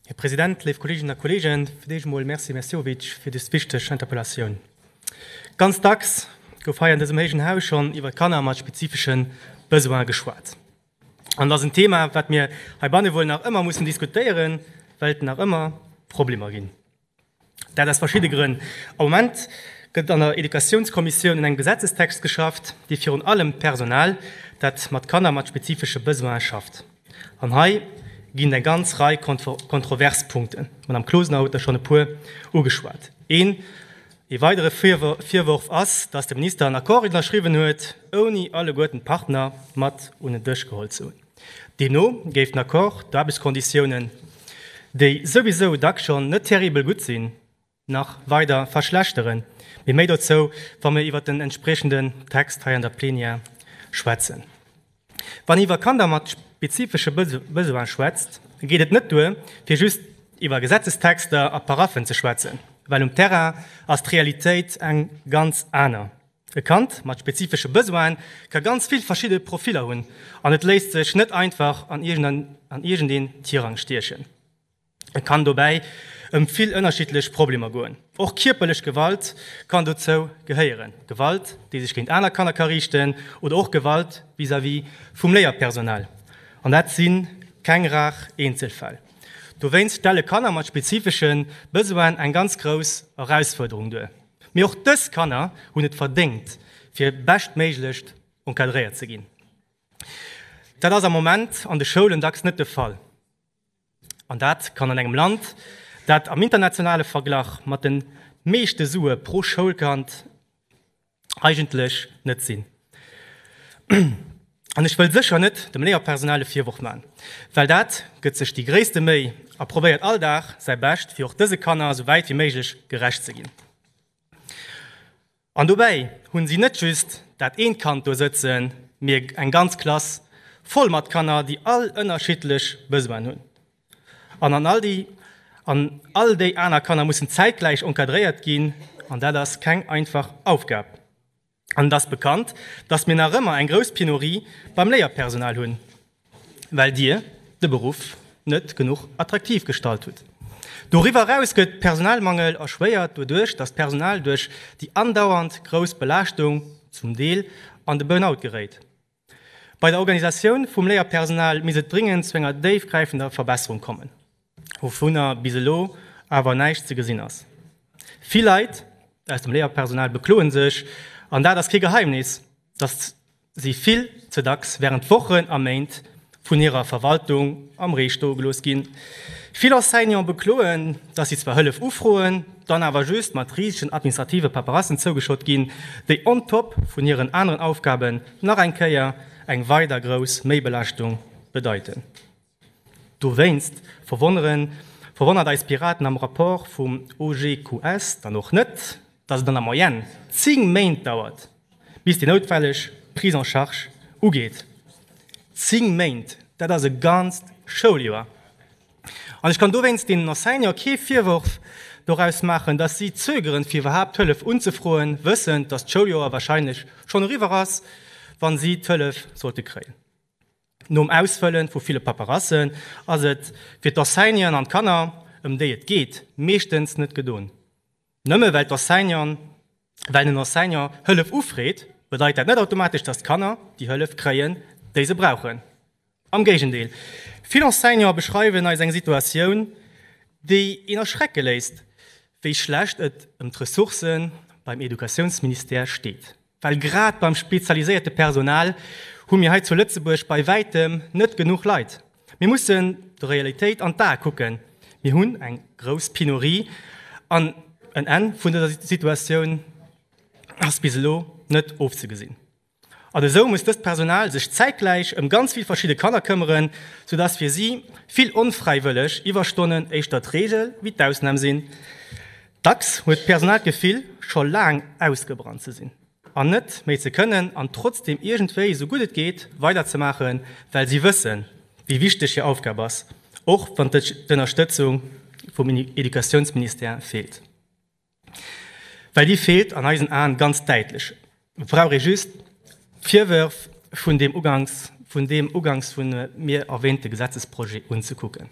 Här President, léif Kolleeginnen a Kolleegen, fir d'éischt emol Merci, Här Meszkowicz, fir dës wichteg Interpellatioun. Ganz dacks gouf hei an dësem héijen Haus schonn iwwer Kanner mat spezifesche Besoine geschwat. An et ass en Thema, wat mir heibanne wuel nach ëmmer mussen diskutéieren, well et nach ëmmer Problemer ginn. Dat aus verschidde Grënn. Am Moment gëtt an der Educatiounskommissioun un engem Gesetzestext geschafft, dee virun allem d'Personal, dat mat Kanner mat spezifesche Besoine schafft. An hei ginn et eng ganz Rei kontrovers Punkten. D'Madame Closener huet der schonn e puer ugeschwat. Een ee weidere Virworf ass, datt de Minister en Accord ënnerschriwwen huet, ouni alleguerten d'Partner mat un en Dësch geholl ze hunn. Deemno géif den Accord d'Aarbechtskonditiounen, déi souwisou dack schonn net terribel gutt sinn, nach weider verschlechteren. Mee méi dozou, wa mir iwwert den entspriechenden Text hei an der Plenière schwätzen. Wann ee iwwer Kanner mat spezifesche Besoine schwätzt, geet et net duer, fir just iwwer Gesetzestexter a Paraffen ze schwätzen, well um Terrain ass d'Realitéit eng ganz aner. E Kand mat spezifesche Besoine ka ganz vill verschidde Profiller hunn an et léisst sech net einfach an iergendeen Tirang stiechen. Et kann dobäi ëm vill ënnerschiddlech Problemer goen. Och kierperlech Gewalt kann dozou gehéieren, Gewalt, déi sech géint aner Kanner ka riichten oder och Gewalt vis-à-vis vum Léierpersonal. An dat si keng rar Eenzelfäll. Dowéinst stelle Kanner mat spezifesche Besoine eng ganz grouss Erausfuerderung duer. Mee och dës Kanner hunn et verdéngt, fir beschtméiglecht encadréiert ze ginn. Dat ass am Moment an de Schoulen dacks net de Fall. An dat kann an engem Land, dat am internationale Verglach mat de meeschte Sue pro Schoulkand eigentlech net sinn. An ech wëll sécher net dem Léierpersonal e Virworf man, well dat gëtt sech déi gréisste Méi a probéiert all Dag säi Bescht fir och dëse Kanner esou wäit wéi méiglech gerecht ze ginn. An dobäi hunn si net just dat eent Kand do sëtzen, mee eng ganz Klass voll mat Kanner, déi all ënnerschiddlech Besoinen hunn. An an all déi an all déi aner Kanner mussen zäitgläich encadréiert ginn, an dat ass keng einfach Aufgab. An et ass bekannt, dass mir nach ëmmer eng grouss Penurie beim Léierpersonal hunn, well Dir de Beruff net genuch attraktiv gestalt hutt. Doriwwer eraus gëtt de Personalmangel erschwéiert doduerch, dass d'Personal duerch déi andauernd grouss Belaaschtung zum Deel an de Burnout geréit. Bei der Organisatioun vum Léierpersonal misst et dringend zu enger déifgräifender Verbesserung kommen, wouvunner bis elo awer näischt ze gesinn ass. Vill Leit aus dem Léierpersonal bekloe sech, an dat ass kee Geheimnis, datt si vill ze dacks wärend Wochen a Méint vun hirer Verwaltung am Ree stoe gelooss ginn. Vill Enseignant bekloen, datt si zwar Hëllef ufroen, dann awer just mat risegen administrative Paperassen zougeschott ginn, déi on top vun hiren aneren Aufgaben nach eng Kéier eng weider grouss Méibelaaschtung bedeiten. Dowéinst verwonnert eis Piraten am Rapport vum OGQS dann och net, dass et an der Moyenne 10 Méint dauert, bis déi noutwelleg Prise en charge ugeet. 10 Méint, dat ass e ganzt Schouljoer! An ech kann dowéinst deenen Enseignanten kee Virworf doraus maachen, dass si zögeren, fir iwwerhaapt d'Hëllef unzefroen, wëssend, dass d'Schouljoer wahrscheinlech schonn eriwwer ass, wa si d'Hëllef sollte kréien. Nom Ausfëlle vu ville Paperassen ass et fir d'Enseignanten an d'Kanner, ëm déi et geet, meeschtens net gedon. Nëmme well d'Enseignanten, well en Enseignant Hëllef ufreet, bedeit dat net automatesch, dass d'Kanner déi Hëllef kréien, déi se brauchen. Am Géigendeel, vill Enseignanten beschreiwen eis eng Situatioun, déi een erschrecke léisst, wéi schlecht et ëm d'Ressourcë beim Educatiounsministère steet. Well grad beim spezialiséierte Personal hu mir hei zu Lëtzebuerg bei wäitem net genuch Leit. Mir mussen der Realitéit an d'Ae kucken, mir hunn eng grouss Penurie an en Enn vun dëser Situatioun ass bis elo net ofzegesinn. An esou muss dëst Personal sech zäitgläich ëm ganz vill verschidde Kanner këmmeren, sou dass fir si vill onfräiwëlleg Iwwerstonnen éischter d'Reegel wéi d'Ausnam sinn. Dacks huet d'Personal d'Gefill, scho laang ausgebrannt ze sinn an net méi ze kënnen an trotzdeem iergendwéi esou gutt et geet weiderzemaachen, well si wëssen, wéi wichteg hir Aufgab ass, och wann d'Ënnerstëtzung vum Educatiounsministère feelt. Well déi feelt an eisen Aen ganz däitlech. Et brauch ee just d'Virwërf vun deem ugangs vun deem ugangs vun mir erwähnte Gesetzesprojet unzekucken.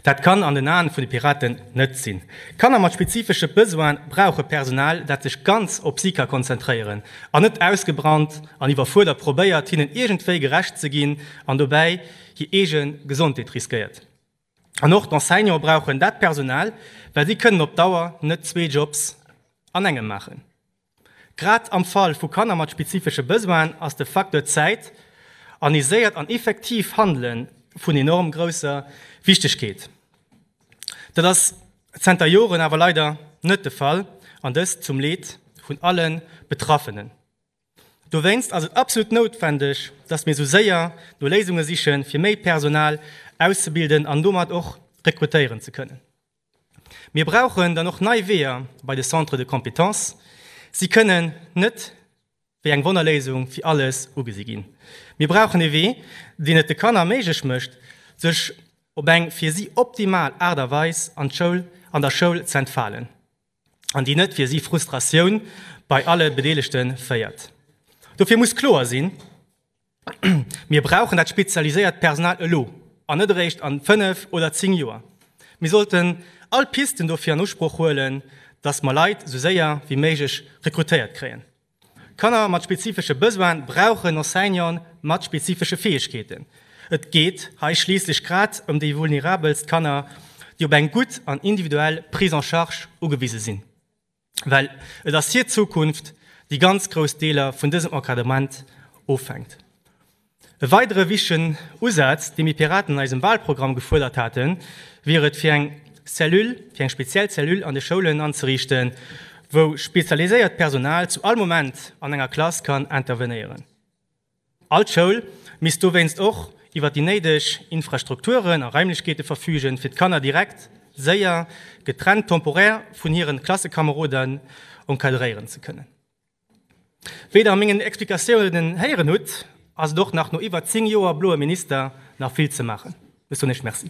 Dat kann an den Aen vun de Piraten net sinn. Kanner mat spezifesche Besoine brauche Personal, dat sech ganz op si ka konzentréieren an net ausgebrannt an iwwerfuerdert probéiert, hinnen iergendwéi gerecht ze ginn an dobäi hir eege Gesondheet riskéiert. An och d'Enseignante brauchen dat Personal, well si kënnen op Dauer net zwee Jobs an engem maachen. Grad am Fall vu Kanner mat spezifesche Besoinen ass de Facteur Zäit, aniséiert an effektiv Handelen vun enorm grousser Wichtegkeet. Dat ass zenter Joren awer leider net de Fall, an dëst zum Leed vun alle Betraffenen. Dowéinst ass et absolut noutwendeg, dass mir sou séier no Léisunge sichen, fir méi Personal auszebilden an domat och rekrutéieren ze kënnen. Mir brauchen dann och nei Weeër bei de Centres de compétences. Si kënnen net wéi eng Wonnerléisung fir alles ugesi ginn. Mir brauchen e Wee, deen et de Kanner méiglech mécht, sech op eng fir si optimal Aart a Weis an der Schoul ze entfalen, an déi net fir si Frustratioun bei alle Bedeelegte féiert. Dofir muss kloer sinn, Mir brauchen dat spezialiséiert Personal elo an net eréischt a fënnf oder zéng Joer. Mir sollten all Pisten dofir an Usproch huelen, datt mer Leit esou séier wéi méiglech rekrutéiert kréien. Kanner mat spezifesche Besoine brauchen Enseignanten mat spezifesche Fäegkeeten. Et geet hei schliisslech grad ëm déi vulnerabelst Kanner, déi op eng gutt an individuell Prise en charge ugewise sinn. well et ass hir Zukunft, déi ganz grouss Deeler vun dësem Encadrement ofhänkt. E weidere wichtegen Usaz, dee mir Piraten an eisem Wahlprogramm gefuerdert haten, wier et, fir eng Cellule, fir eng speziell Cellule an de Schoulen anzeriichten, wou spezialiséiert Personal zu all Moment an enger Klass kann intervenéieren. All Schoul misst dowéinst och iwwer déi néideg Infrastrukturen a Raimlechkeete verfügen, fir d'Kanner direkt, séier, getrennt temporaire vun hiren Klassekameroden encadréieren ze kënnen. Wéi der a mengen Explikatiounen héieren hutt, ass et och nach no iwwer 10 Joer bloe Minister nach vill ze maachen. Bis donéischt. Merci.